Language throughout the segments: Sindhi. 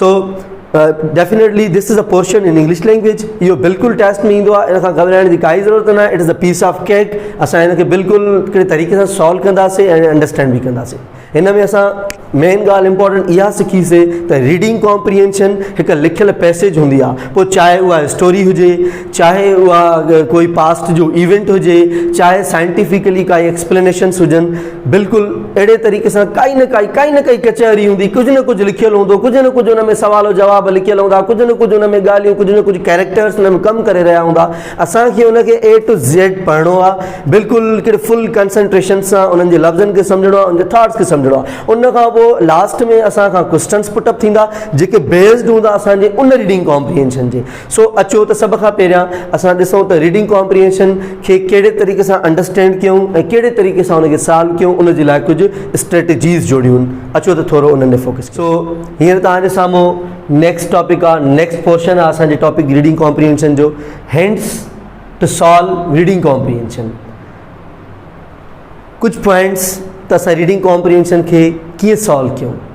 So definitely this is a portion in English language اهو بالڪل ٽيسٽ ۾ ايندو آهي ان کان گهٻرائڻ جي ڪائي ضرورت نه آهي it is a piece of cake اسان ان کي بالڪل ڪهڙي طريقي سان سالو ڪنداسي ۽ انڊرسٽينڊ به ڪنداسي هن ۾ اسان مين ڳالهه امپورٽنٽ اها سکيسي ته ريڊنگ ڪامپرينشن هڪ لکيل پيسيج هوندي آهي پوء چاهي اها اسٽوري هجي چاهي اها ڪوئي پاسٽ جو ايونٽ هجي، چاهي سائنٽيفڪلي ڪائي ايڪسپلينيشنس هجن، بلڪل اهڙي طريقي سان ڪائي نه ڪائي ڪائي نه ڪائي ڪچهري هوندي، ڪجهه نه ڪجهه لکيل هوندو، ڪجهه نه ڪجهه ان ۾ سوال و جواب لکيل هوندا، ڪجهه نه ڪجهه ان ۾ ڳالهيون، ڪجهه نه ڪجهه ڪيريڪٽرس ان ۾ ڪم ڪري رهيا هوندا. اسان کي ان کي اي ٽو زيڊ پڙهڻو آهي، بلڪل هڪڙي فل ڪنسنٽريشن سان انهن جي لفظن کي سمجهڻو آهي، انهن جي ٿاٽس کي سمجهڻو آهي. ان کان پوء لاسٽ ۾ اسان کان ڪوئسٽنس پٽ اپ ٿيندا، جيڪي بيسڊ هوندا اسان جي ان ريڊنگ ڪامپريهينشن جي. سو اچو ته سڀ کان پهريان اسان ڏسون ته ريڊنگ ڪامپريهينشن کي ڪهڙي طريقي سان انڊرسٽينڊ ڪيون ۽ ڪهڙي طريقي سان ان کي سالو ڪيون ان جي لاء ڪجهه اسٽريٽجيز جوڙيون اچو ته ٿورو انهن تي فوڪس ڪيون. سو هينئر توهان جي سامهون نيڪسٽ ٽاپڪ آهي نيڪسٽ پورشن آهي اسان جي ٽاپڪ ريڊنگ ڪامپريهينشن جو hints to solve reading comprehension ڪجهه پوائنٽس ته اسان ريڊنگ ڪامپريهينشن کي ڪيئن سالو ڪيون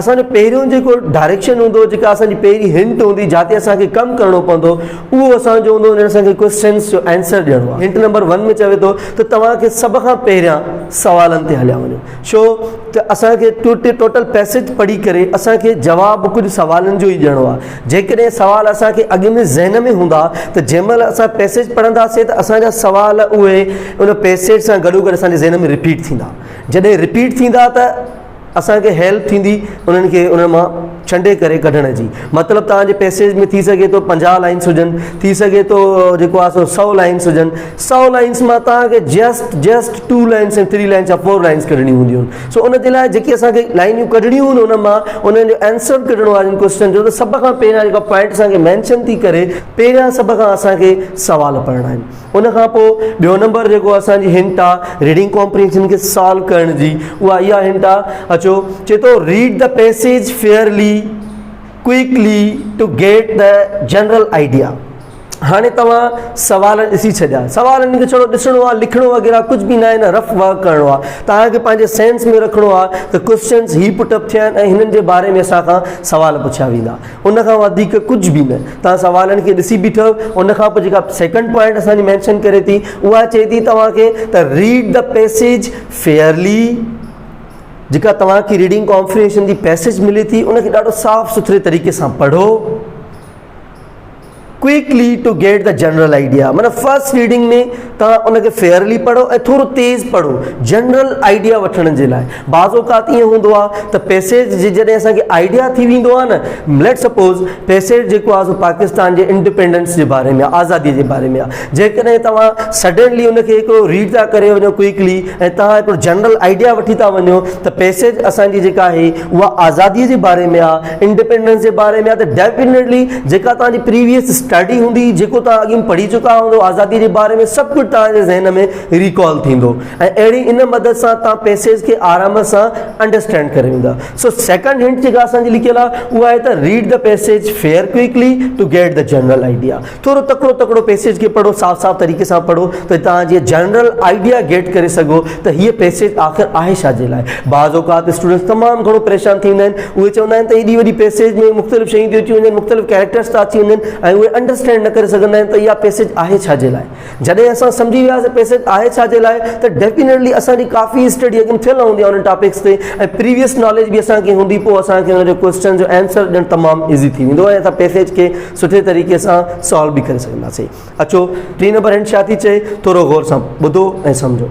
اسان جو پهريون جيڪو ڊائريڪشن هوندو جيڪا اسان جي پهرين هنٽ هوندي جاتي اسان کي ڪم ڪرڻو پوندو اهو اسان جو هوندو اسان کي ڪويسچنس جو آنسر ڏيڻو آهي هنٽ نمبر 1 ۾ چوي ٿو ته توهان کي سڀ کان پهريان سوالن تي هليا وڃو ڇو ته اسان کي ٽوٽل پيسيج پڙهي ڪري اسان کي جواب ڪجهه سوالن جو ئي ڏيڻو آهي جيڪڏهن سوال اسان کي اڳ ۾ ذهن ۾ هوندا ته جنهن مهل اسان پيسيج پڙهنداسين ته اسان جا سوال اهي ان پيسيج سان گڏو گڏ اسان جي ذهن ۾ رپيٽ ٿيندا جڏهن رپيٽ ٿيندا ته اسان کي هيلپ ٿيندي انهن کي انهن مان ڇنڊي ڪري ڪڍڻ جي مطلب توهان جي پئسيج ۾ ٿي سگهي ٿو پنجاهه لائنس هجن ٿي سگهي ٿو جيڪو آهي سو سؤ لائنس هجن سؤ لائنس مان توهان کي just just two lines ۽ three lines يا فور لائنس ڪڍڻيون هونديون آهن سو ان جي لاء جيڪي اسانکي لائنيون ڪڍڻيون هن ان مان انهن جو آنسر ڪڍڻو آهن ڪوشچن جو ته سڀ کان پهريان جيڪا پوائنٽ اسانکي مينشن ٿي ڪري پهريان سڀ کان اسانکي سوال پڙهڻا آهن ان کان پوء ٻيو نمبر جيڪو اسان جي هنٽ آ ريڊنگ ڪمپريهنشن کي سالو ڪرڻ جي اها اها هنٽ آ اچو چي ٿو read the passage fairly quickly to get the general idea هاڻي توهان سوال ڏسي ڇڏيا سوال ان کي ڇڙو ڏسڻو آ لکڻو وغيرها ڪجهه به نه آهي نه رف ورڪ ڪرڻو آ توهان کي پنهنجي سينس ۾ رکڻو آ ته ڪوشچنس هي پٽ اپ ٿيا آهن ۽ هنن جي باري ۾ اسان کان سوال پڇيا ويندا ان کان وڌيڪ ڪجهه به نه. توهان سوالن کي ڏسي بيٺو ان کان پوء جيڪا سيڪنڊ پوائنٽ اسان جي مينشن ڪري ٿي اها چئي ٿي توهان کي ته ريڊ دي پيسيج فيئرلي جيڪا توهان کي ريڊنگ ڪانفريشن جي پيسيج ملي ٿي ان کي ڏاڍو صاف سٿري طريقي سان پڙهو quickly to get the general idea معنيٰ فرسٽ ريڊنگ ۾ توهان ان کي فيئرلي پڙهو ۽ ٿورو تيز پڙهو جنرل آئيڊيا وٺڻ جي لاء بعض اوقات ائين هوندو آهي ته پيسيج جي جڏهن اسانکي آئيڊيا ٿي ويندو آهي نه ليٽ سپوز پيسيج جيڪو آهي سو پاڪستان جي انڊيپينڊنس جي باري ۾ آزادي جي باري ۾ آهي جيڪڏهن توهان سڊنلي ان کي هڪڙو ريڊ ٿا ڪري وڃو ڪوئڪلي ۽ توهان هڪڙو جنرل آئيڊيا وٺي ٿا وڃو ته پيسيج اسانجي جيڪا آهي اها آزادي جي باري ۾ آهي انڊيپينڊنس جي باري ۾ آهي ته ڊيفنيٽلي جيڪا توهان جي پريويس اسٽڊي هوندي جيڪو توهان اڳ ۾ پڙهي چڪا هوندو آزادي جي باري ۾ سڀ ڪجهه توهان جي ذهن ۾ ريڪال ٿيندو ۽ اهڙي ان مدد سان توهان پيسيج کي آرام سان انڊرسٽينڊ ڪري ويندا سو سيڪنڊ هنٽ جيڪا اسان جي لکيل آهي اها آهي ته read the passage fair quickly to get the general idea ٿورو تڪڙو تڪڙو پئسيج کي پڙهو صاف صاف طريقي سان پڙهو ته توهان جيئن جنرل آئيڊيا گيٽ ڪري سگهو ته هيء پئسيج آخر آهي ڇا جي لاء بعض اوقات اسٽوڊنٽس تمام گهڻو پريشان ٿي ويندا آهن اهي چوندا آهن ته ايڏي وڏي پئسيج ۾ مختلف شيون ٿيون اچي وڃن مختلف ڪيريڪٽرس ٿا اچي وڃن ۽ اهي انڊرسٽينڊ نه ڪري سگهندا آهن ته اها پئسيج آهي ڇا جي لاء جڏهن اسان سمجهي وياسين پيسٽ آهي ڇا جي لاء ته ڊيفينيٽلي اسان جي ڪافي اسٽڊي اڳ ۾ ٿيل هوندي آهي انهن ٽاپڪس تي ۽ پريويس ناليج به اسان کي هوندي پوء اسان کي ان جو ڪوئسچن جو آنسر ڏيڻ تمام ايزي ٿي ويندو ۽ اسان پيسٽ کي سٺي طريقي سان سالو به ڪري سگهنداسين اچو ٽين نمبر هنٽ ڇا ٿي چئي ٿورو غور سان ٻڌو ۽ سمجهو.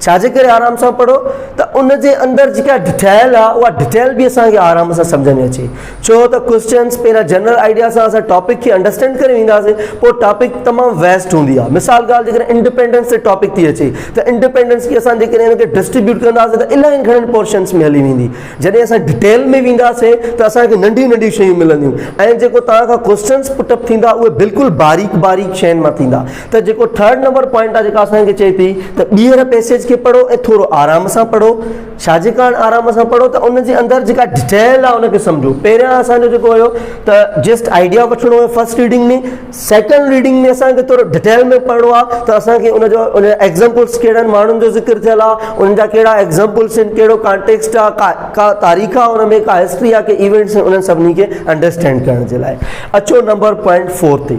ڇا جي ڪري آرام سان پڙهو ته ان جي اندر جيڪا ڊيٽيل آ اها ڊيٽيل به اسانکي آرام سان سمجھ ۾ اچي ڇو ته ڪوشچنس پهريان جنرل آئيڊيا سان اسان ٽاپڪ کي انڊرسٽينڊ ڪري وينداسين پوء ٽاپڪ تمام ويسٽ هوندي آ مثال ڳالهه جيڪڏهن انڊيپينڊنس تي ٽاپڪ ٿي اچي ته انڊيپينڊنس کي اسان جيڪڏهن ان کي ڊسٽريبيوٽ ڪنداسين ته الاهي گهڻن پورشنس ۾ هلي ويندي جڏهن اسان ڊيٽيل ۾ وينداسين ته اسانکي ننڍيون ننڍيون شيون ملنديون ۽ جيڪو تان کان ڪوشچنس پٽ اپ ٿيندا اهي بلڪل باريڪ باريڪ شين مان ٿيندا ته جيڪو ٿرڊ نمبر پوائنٽ آ جيڪا اسان کي چئي ٿي ته ٻيهر پيسيج کي پڙهو ۽ ٿورو آرام سان پڙهو شاهجي ڪاڻ آرام سان پڙهو ته ان جي اندر جيڪا ڊٽيل آ ان کي سمجهو پهريان اسان جو جيڪو هيو ته جسٽ آئيڊيا وٺڻو هيو فرسٽ ريڊنگ ۾ سيڪنڊ ريڊنگ ۾ اسان کي ٿورو ڊٽيل ۾ پڙهڻو آ ته اسان کي ان جو ان ايگزامپلس ڪهڙن ماڻهن جو ذڪر ٿيل آ ان جا ڪهڙا ايگزامپلس آهن ڪهڙو ڪانٽيڪسٽ آ ڪا تاريخ آ ان ۾ ڪا هسٽري آ ڪي ايونٽس آهن انهن سڀني کي انڊرسٽينڊ ڪرڻ جي لاء اچو نمبر پوائنٽ فور تي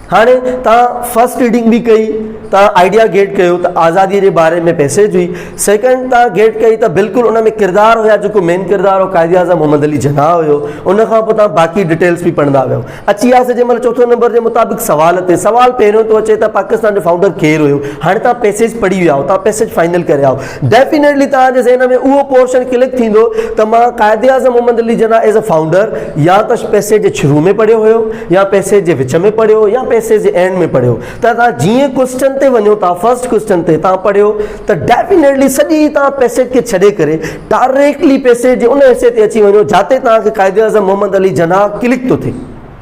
هاڻي توهان فرسٽ ريڊنگ به ڪئي توهان آئيڊيا گيٽ ڪيو ته آزادي جي باري ۾ پيسيج هئي سيڪنڊ توهان گيٽ ڪئي ته بلڪل ان ۾ ڪردار هيا جيڪو مين ڪردار هو قائد اعظم محمد علي جناح هيو ان کان پوء توهان باقي ڊيٽيلس به پڙهندا ويو اچي وياسي جنهن مهل چوٿون نمبر جي مطابق سوال تي سوال پهريون ٿو اچي ته پاڪستان جو فائونڊر ڪير هيو هاڻي توهان پيسيج پڙهي ويا آهيو توهان پيسيج فائنل ڪري آهيو ڊيفينيٽلي توهان جي ذهن ۾ اهو پورشن ڪلڪ ٿيندو ته مان Quaid Azam Muhammad Ali Jinnah as a founder يا ته پئسيج جي شروع ۾ پڙهيو هيو يا پئسيج جي وچ ۾ پڙهيو يا پئسيج جي اينڊ ۾ پڙهيو ته توهان جيئن ڪوئسٽن تي وڃو ٿا فرسٽ ڪوئسٽن تي توهان پڙهيو ته ڊيفينيٽلي سڄي توهان پئسيج کي ڇڏي ڪري ڊائريڪٽلي پئسيج جي ان حصي تي اچي وڃو جاتي توهان کي قائد اعظم محمد علي جناح ڪلڪ ٿو ٿئي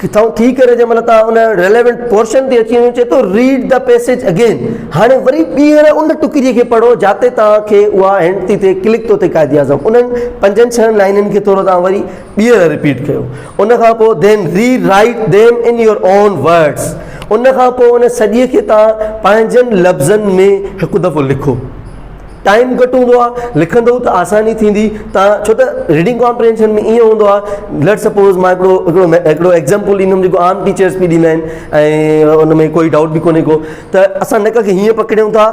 ڪٿائون ٿي ڪري جنهن مهل توهان ان Relevant Portion تي اچي وڃو چئي ٿو Read the passage again هاڻي وري ٻيهر ان ٽڪري کي پڙهو جاتي توهان کي اها Hint ٿي ٿئي ڪلڪ ٿو ٿئي قائد اعظم انهن پنجن ڇهن لائنن کي ٿورو توهان وري ٻيهر Repeat ڪيو ان کان پوء Then Rewrite them in your own words ان کان پوء ان سڄي کي توهان پنهنجن لفظن ۾ هڪ دفعو لکو. ٽائيم گهٽ هوندو آهي لکندو ته آساني ٿيندي تان ڇو ته ريڊنگ ڪامپرينشن ۾ ايئن هوندو آهي ليٽ سپوز ماء هڪڙو هڪڙو هڪڙو ايگزامپل ڏيندم جيڪو عام ٽيچرس به ڏيندا آهن ۽ ان ۾ ڪوئي ڊائوٽ به ڪونهي ڪو ته اسان نڪ کي هيئن پڪڙيون ٿا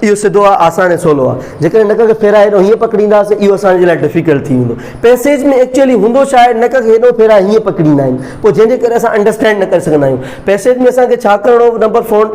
اهو سڌو آهي آسان ۽ سولو آهي جيڪڏهن نڪ کي ڦيرائي ڏو هيئن پڪڙينداسي اهو اسانجي لاء ڊفيڪلٽ ٿي ويندو پيسيج ۾ ايڪچوئلي هوندو ڇا آهي نڪ کي هيڏو ڦيرائي هيئن پڪڙيندا آهن پوء جنهن جي ڪري اسان انڊرسٽينڊ نه ڪري سگهندا آهيون پيسيج ۾ اسانکي ڇا ڪرڻو نمبر فون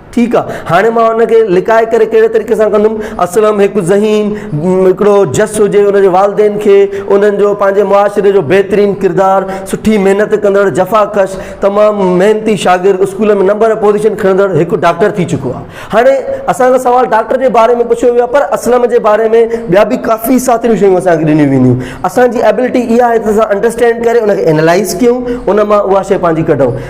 ٺيڪ آ هاڻي مان ان کي لڪائي ڪري ڪهڙي طريقي سان ڪندم اسلم هڪ ذهين هڪڙو جس هجي ان جي والدين کي انهن جو پنهنجي معاشري جو بهترين ڪردار سٺي محنت ڪندڙ جفا ڪش تمام محنتي شاگرد اسڪول ۾ نمبر پوزيشن کڻندڙ هڪ ڊاڪٽر ٿي چڪو آ هاڻي اسان کان سوال ڊاڪٽر جي باري ۾ پڇيو ويو آ پر اسلم جي باري ۾ ٻيا به ڪافي ساتريون شيون اسان کي ڏنيون وينديون اسان جي ابلٽي اها آهي ته اسان انڊرسٽينڊ ڪري ان کي اينالائز ڪيون ان مان اها شي پنهنجي ڪڍون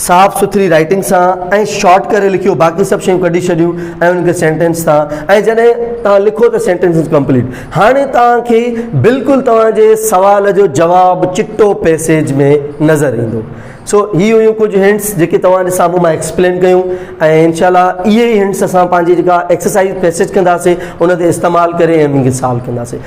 صاف سٿري رائيٽنگ سان ۽ شارٽ ڪري لکيو باقي سڀ شيون ڪڍي ڇڏيون ۽ انهن کي سينٽينس سان ۽ جڏهن توهان لکو ته سينٽينس از ڪمپليٽ هاڻي توهان کي بلڪل توهان جي سوال جو جواب چٽو پيسيج ۾ نظر ايندو سو هي هيون ڪجهه هنٽس جيڪي توهان جي سامهون مان ايڪسپلين ڪيون ۽ انشاء الله اهي ئي هنٽس اسان پنهنجي جيڪا ايڪسرسائز پيسيج ڪنداسين ان تي استعمال ڪري انهن کي سالو ڪنداسين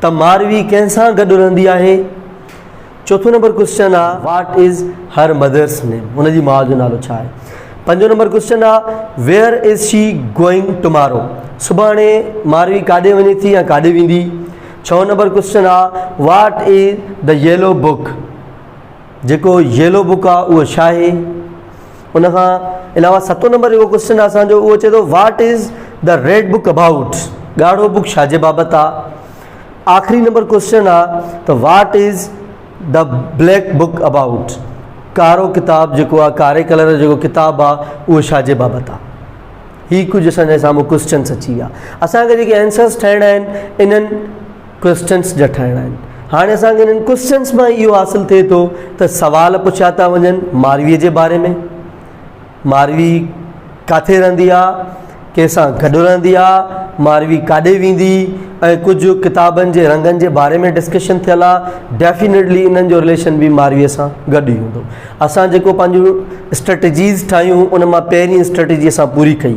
ته ماروي ڪنهن سان گڏ رهندي آهي؟ چوٿون نمبر ڪوشچن آ what is her mother's name ان جي ماء جو نالو ڇا آهي؟ پنجون نمبر ڪوشچن آ where is she going tomorrow سڀاڻي ماروي ڪاڏي وڃي ٿي يا ڪاڏي ويندي؟ ڇهون نمبر ڪوشچن آ what is the yellow book? جيڪو ييلو بڪ آ اهو ڇا آهي؟ ان کان علاوه ستون نمبر جيڪو ڪوشچن آهي اسان جو اهو چئي ٿو what is the red book about ڳاڙهو بڪ ڇا جي بابت آ آخري نمبر ڪوشچن آ ته what is the black book about ڪارو ڪتاب جيڪو آ ڪاري ڪلر جو جيڪو ڪتاب آ اهو ڇا جي بابت آ هي ڪجهه اسان جي سامهون ڪوشچنس اچي ويا اسان کي جيڪي آنسرس ٺاهڻا آهن انهن ڪوئسچنس جٺائڻا آهن. هاڻي اسان کي انهن ڪوئسچنس مان اهو حاصل ٿئي ٿو ته سوال پڇيا ٿا وڃن ماروي جي باري ۾ ماروي ڪاٿي رهندي آهي ڪنهن سان گڏ رهندي آهي ماروي ڪاڏي ويندي ۽ ڪجهه ڪتابن جي رنگن جي باري ۾ ڊسڪشن ٿيل آهي ڊيفينيٽلي انهن جو رليشن به ماروي سان گڏ ئي هوندو اسان جيڪو پنهنجون اسٽريٽجيز ٺاهيون ان مان پهرين اسٽريٽجي اسان پوري ڪئي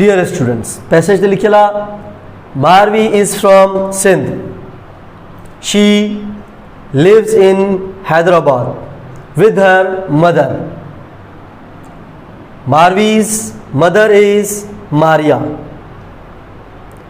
ڊيئر اسٽوڊنٽس پيسيج تي لکيل آ Marvi is from Sindh she lives in Hyderabad with her mother Marvi's mother is Maria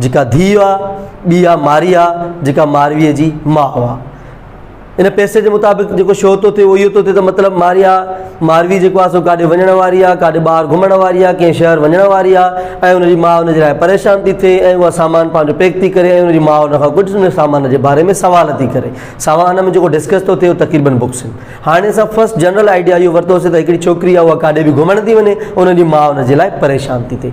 جيڪا ڌيء آ، ٻي آ ماريا جيڪا مارويء جي ماء آ. ان پيسي جي مطابق جيڪو شو ٿو ٿئي اهو اهو ٿو ٿئي ته مطلب ماريا ماروي جيڪو آ سو ڪاڏي وڃڻ واري آ ڪاڏي ٻاهر گهمڻ واري آ ڪنهن شهر وڃڻ واري آ ۽ ان جي ماء ان جي لاء پريشان ٿي ٿئي ۽ اها سامان پنهنجو پيڪ ٿي ڪري ۽ ان جي ماء ان کان ڪجهه ان سامان جي باري ۾ سوال ٿي ڪري سامان ۾ جيڪو ڊسڪس ٿو ٿئي تقريبن بڪس آهن هاڻي اسان فرسٽ جنرل آئيڊيا اهو ورتوسي ته هڪڙي ڇوڪري آ اها ڪاڏي به گهمڻ ٿي وڃي ان جي ماء ان جي لاء پريشان ٿي ٿئي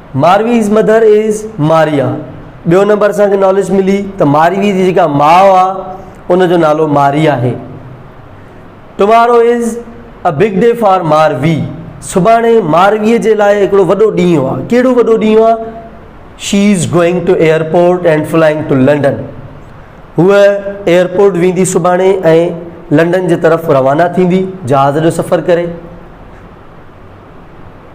مارويز مدر از ماريا ٻيو نمبر اسان کي ناليج ملي ته ماروي جي جيڪا ماء آ ان جو نالو ماري آهي tomorrow is a big day for Marvi سڀاڻي ماروي جي لاء هڪڙو وڏو ڏينهن آ ڪهڙو وڏو ڏينهن آ she is going to airport and flying to London هو ايئرپورٽ ويندي سڀاڻي ۽ لنڊن جي طرف روانا ٿيندي جهاز جو سفر ڪري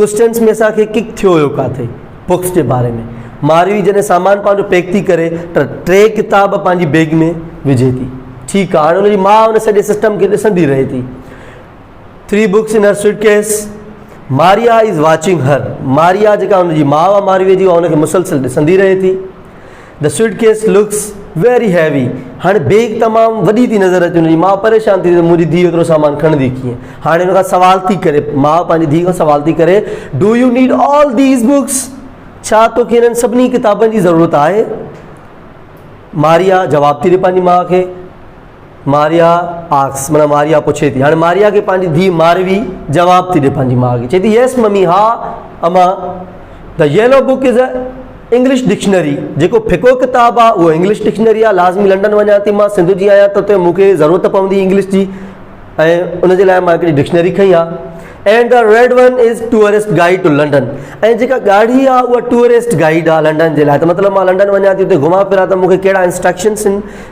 ڪسٽنس ۾ اسان کي ڪڪ ٿيو هيو ڪاٿي بڪس جي باري ۾ ماريوي جڏهن سامان پنهنجو پيڪ ٿي ڪري ته ٽي ڪتاب پنهنجي بيگ ۾ وجهي ٿي ٺيڪ آهي هاڻي ان جي ماء ان سڄي سسٽم کي ڏسندي رهي ٿي three books in her suitcase ماريا از واچنگ هر ماريا جيڪا هن جي ماء ماريوي جي هن کي مسلسل ڏسندي رهي ٿي The suitcase looks very heavy. هاڻي بيگ تمام وڏي ٿي نظر اچي وڃي ماء پريشان ٿي ته منهنجي ڌيء ايترو سامان کڻندي ڪيئن هاڻي ان کان سوال ٿي ڪري ماء پنهنجي ڌيء کان سوال ٿي ڪري do you need all these books ڇا توکي هنن سڀني ڪتابن جي ضرورت آهي ماريا جواب ٿي ڏي پنهنجي ماء کي ماريا آڪس مانا ماريا پڇي ٿي هاڻي ماريا کي پنهنجي ڌي ماروي جواب ٿي ڏي پنهنجي ماء کي چي ٿي يس ممي ها اما the yellow book is a English dictionary جيڪو ڦڪو ڪتاب آ اهو انگلش ڊڪشنري آ لازمي لنڊن وڃان ٿي مان سنڌ جي آهيان ته اتي مونکي ضرورت پوندي انگلش جي ۽ ان جي لاء مان هڪڙي ڊڪشنري کڻي آ and the red one is tourist guide to London ۽ جيڪا ڳاڙهي آ اها ٽوئرسٽ گائيڊ آ لنڊن جي لاء ته مطلب مان لنڊن وڃان ٿي اتي گهمان ڦران ته مونکي ڪهڙا انسٽرڪشنس آهن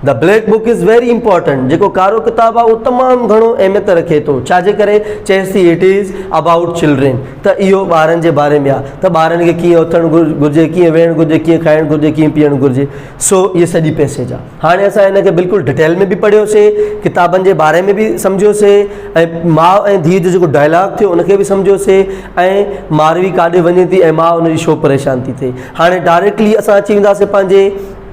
The Black Book is very important جيڪو ڪارو ڪتاب آهي اهو تمام گهڻو اهميت رکي ٿو ڇا جي ڪري چيس ٿي اٽ از ابائوٽ چلڊرين ته اهو ٻارن جي باري ۾ آهي ته ٻارن کي ڪيئن اٿڻ گهرجي ڪيئن ويهڻ گهرجي ڪيئن کائڻ گهرجي ڪيئن پيئڻ گهرجي سو هي سڄي پيسيج آهي هاڻي اسان هن کي بلڪل ڊٽيل ۾ به پڙهيوسي ڪتابن جي باري ۾ به سمجهيوسي ۽ ماء ۽ ڌيء جو جيڪو ڊائلاگ ٿيو ان کي به سمجهيوسي ۽ ماروي ڪاڏي وڃي ٿي ۽ ماء ان جي شو پريشان ٿي ٿئي هاڻي ڊائريڪٽلي اسان اچي وينداسي پنهنجي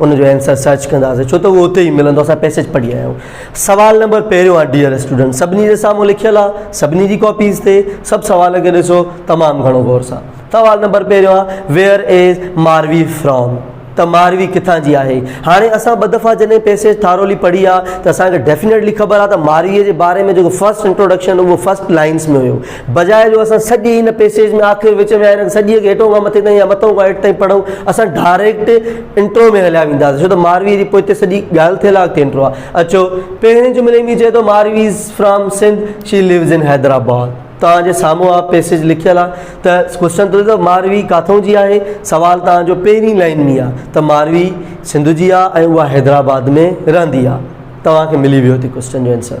ان جو آنسر سرچ ڪنداسين ڇو ته اهو اتي ئي ملندو اسان پيسيج پڙهي آيا آهيون سوال نمبر پهريون آهي ڊيئر اسٽوڊنٽ سڀني جي سامهون لکيل آهي سڀني جي ڪاپيز تي سڀ سوال کي ڏسو تمام گهڻو غور سان سوال نمبر پهريون آهي ويئر از ماروي فرام ته ماروي ڪٿان جي آهي هاڻي اسان ٻه دفعا جڏهن پيسيج ٿارولی پڙهي آهي ته اسان کي ڊيفينيٽلي خبر آهي ته مارويء جي باري ۾ جيڪو فرسٽ انٽروڊڪشن هو فرسٽ لائنس ۾ هيو بجاء جو اسان سڄي هن پيسيج ۾ آخر وچ ۾ هن سڄي کي هيٺون کان مٿي تائين يا مٿون کان هيٺ تائين پڙهون اسان ڊائريڪٽ انٽرو ۾ هليا وينداسين ڇو ته ماروي جي پوئتي سڄي ڳالهه ٿيل آهي اڳتي انٽرو آهي اچو پهرين جملي ۾ چئي ٿو Marvi is from Sindh she lives in Hyderabad توهان جي سامهون آ پيسيج لکيل آهي ته ڪوشچن ٿو ته ماروي ڪاٿون جي آهي سوال توهان جو پهرين لائن ۾ آهي ته ماروي سنڌ جي آهي ۽ اها حيدرآباد ۾ رهندي آهي توهان کي ملي ويو ٿي ڪوشچن جو آنسر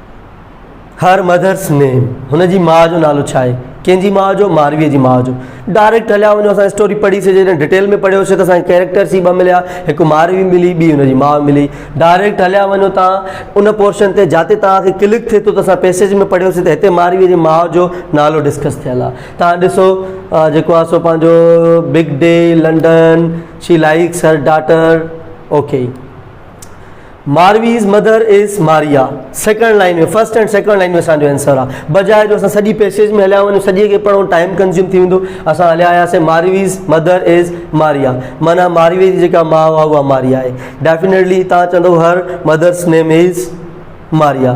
هر مدرس نيم هن جي ماء جو نالو ڇا آهي ڪنهن جي ماء جو ماروي جي ماء جو ڊائريڪٽ هليا وڃو اسان اسٽوري پڙهي سي جڏهن ڊيٽيل ۾ پڙهيو سي ته اسان ڪيريڪٽر سي ٻه مليا هڪ ماروي ملي ٻي هن جي ماء ملي ڊائريڪٽ هليا وڃو تان ان پورشن تي جاتي تان کي ڪلڪ ٿي ٿو ته اسان پيسيج ۾ پڙهيو سي ته هتي ماروي جي ماء جو نالو ڊسڪس ٿيل آهي تان ڏسو جيڪو آهي سو پنهنجو big day London she likes her daughter okay Marvi's mother is Maria second line ۾ first and second line ۾ اسانجو آنسر آ بجاء جو اسان سڄي پيسيج ۾ هليا وڃون سڄي کي پڙهون ٽائم ڪنزيوم ٿي ويندو اسان هليا آياسي مارويز مدر از ماريا مانا ماروي جي جيڪا ماء آ اها ماريا آهي ڊيفينيٽلي تان چوندو هر مدرس نيم از ماريا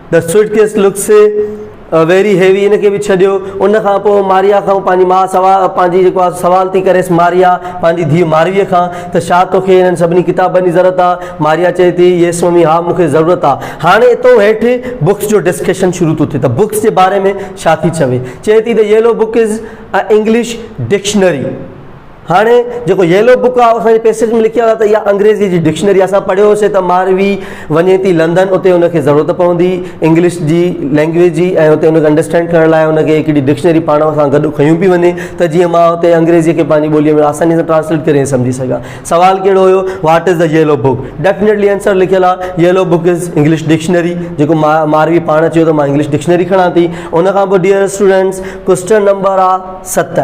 The suitcase looks very heavy ان کي به ڇڏيو. ان کان پوء ماريا کان پنهنجي ماء پنهنجي جيڪو آهي سوال ٿي ڪريس ماريا پنهنجي ڌيء مارويء کان ته ڇا توکي انهن سڀني ڪتابن جي ضرورت آهي؟ ماريا چئي ٿي Yes ممي ها مون کي ضرورت آهي. هاڻي اتو هيٺ بڪس جو ڊسڪشن شروع ٿو ٿئي ته بڪس جي باري ۾ ڇا ٿي چوي. چئي ٿي The yellow book is a English dictionary. هاڻي جيڪو ييلو بڪ آف اسان جي پيسيج ۾ لکيا هئا ته اها انگريزي جي ڊڪشنري اسان پڙهيو هوسي ته ماروي وڃي ٿي لندن اتي ان کي ضرورت پوندي انگلش جي لينگويج جي ۽ اتي ان کي انڊرسٽينڊ ڪرڻ لاء ان کي هڪڙي ڊڪشنري پاڻ سان گڏ کنيون پي وڃي ته جيئن مان اتي انگريزي کي پنهنجي ٻوليء ۾ آساني سان ٽرانسليٽ ڪري سمجهي سگهان سوال ڪهڙو هيو what is the yellow book definitely answer لکيل آهي yellow book is English dictionary جيڪو ماء ماروي پاڻ چيو ته مان انگلش ڊڪشنري کڻان ٿي ان کان پوء ڊيئر اسٽوڊنٽس ڪوشچن نمبر آ ست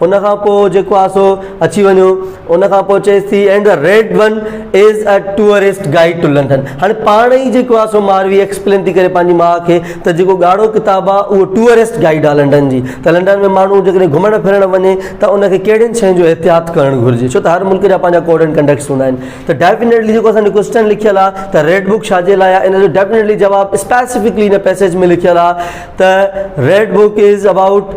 ان کان پوء جيڪو آهي سو اچي وڃو ان کان پوء چيس ٿي and the red one is a tourist guide to London هاڻي پاڻ ئي جيڪو آهي سو ماروي ايڪسپلين ٿي ڪري پنهنجي ماء کي ته جيڪو ڳاڙهو ڪتاب آهي اهو ٽوئرسٽ گائيڊ آهي لنڊن جي ته لنڊن ۾ ماڻهو جيڪڏهن گهمڻ ڦرڻ وڃي ته ان کي ڪهڙين شين جو احتياط ڪرڻ گهرجي ڇو ته هر ملڪ جا پنهنجا ڪوڊ اينڊ ڪنڊڪٽس هوندا آهن ته ڊيفينيٽلي جيڪو اسانجو ڪوشچن لکيل آهي ته ريڊ بوڪ ڇا جي لاء آهي ان جو ڊيفينيٽلي جواب اسپيسيفڪلي ان پيسيج ۾ لکيل آهي ته ريڊ بوڪ از ابائوٽ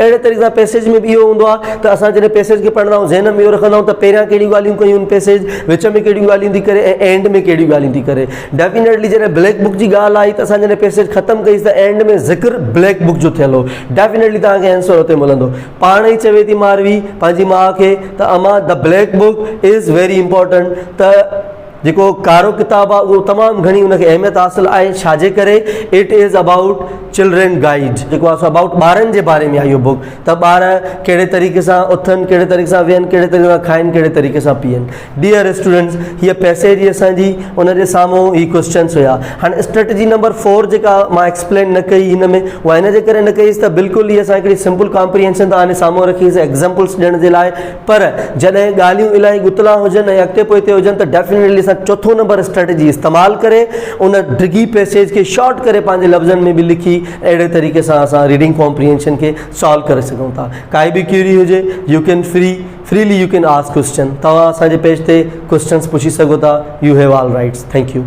اهڙي طريقي سان پئسيج ۾ به اهو هوندو آهي ته اسان جڏهن پئسيج کي پڙهندا آهيون ذهن ۾ اهو رکندا آهيون ته پهريان ڪهڙيون ڳالهيون ڪيون آهن پئسيج وچ ۾ ڪهڙيون ڳالهيون ٿي ڪري ۽ اينڊ ۾ ڪهڙيون ڳالهيون ٿي ڪري ڊيفنيٽلي جڏهن بليڪ بڪ جي ڳالهه آئي ته اسان جڏهن پئسيج ختم ڪئيس ته اينڊ ۾ ذڪر بليڪ بڪ جو ٿيل هو ڊيفنيٽلي توهان کي آنسر اتي ملندو پاڻ ئي چوي ٿي ماروي پنهنجي ماء کي ته امان ته black book is very important ته جيڪو ڪارو ڪتاب آهي اهو تمام گهڻي ان کي اهميت حاصل آهي ڇا جي ڪري it is about children guide جيڪو آهي سو ابائوٽ ٻارن جي باري ۾ آهي اهو بک ته ٻار ڪهڙي طريقي سان اٿن ڪهڙي طريقي سان ويهن ڪهڙي طريقي سان کائن ڪهڙي طريقي سان پيئن ڊيئر اسٽوڈنٹس هي پيسيج جي اسانجي ان جي سامهون هي ڪويشچنس هيا هاڻي اسٽريٽجي نمبر 4 جيڪا مان ايڪسپلين نه ڪئي هن ۾ وائنا جي ڪري نه ڪئي ته بلڪل هي اسان هڪڙي سمپل ڪامپريهنشن ته آني سامهون رکي سي ايگزامپلس ڏيڻ جي لاء پر جڏهن ڳالهيون الاهي ڳتلا هجن ۽ اڳتي پوئتي هجن ته ڊيفنيٽلي اسان چوٿون نمبر اسٽريٽجي استعمال ڪري ان ڊگهي پئسيج کي شارٽ ڪري پنهنجي لفظن ۾ به لکي اهڙي طريقي سان اسان ريڊنگ ڪامپريهنشن کي سالو ڪري سگهون ٿا ڪائي به ڪيوري هجي you can free freely you can ask question توهان اسان جي پيج تي ڪوشچنس پڇي سگهو ٿا you have all rights thank U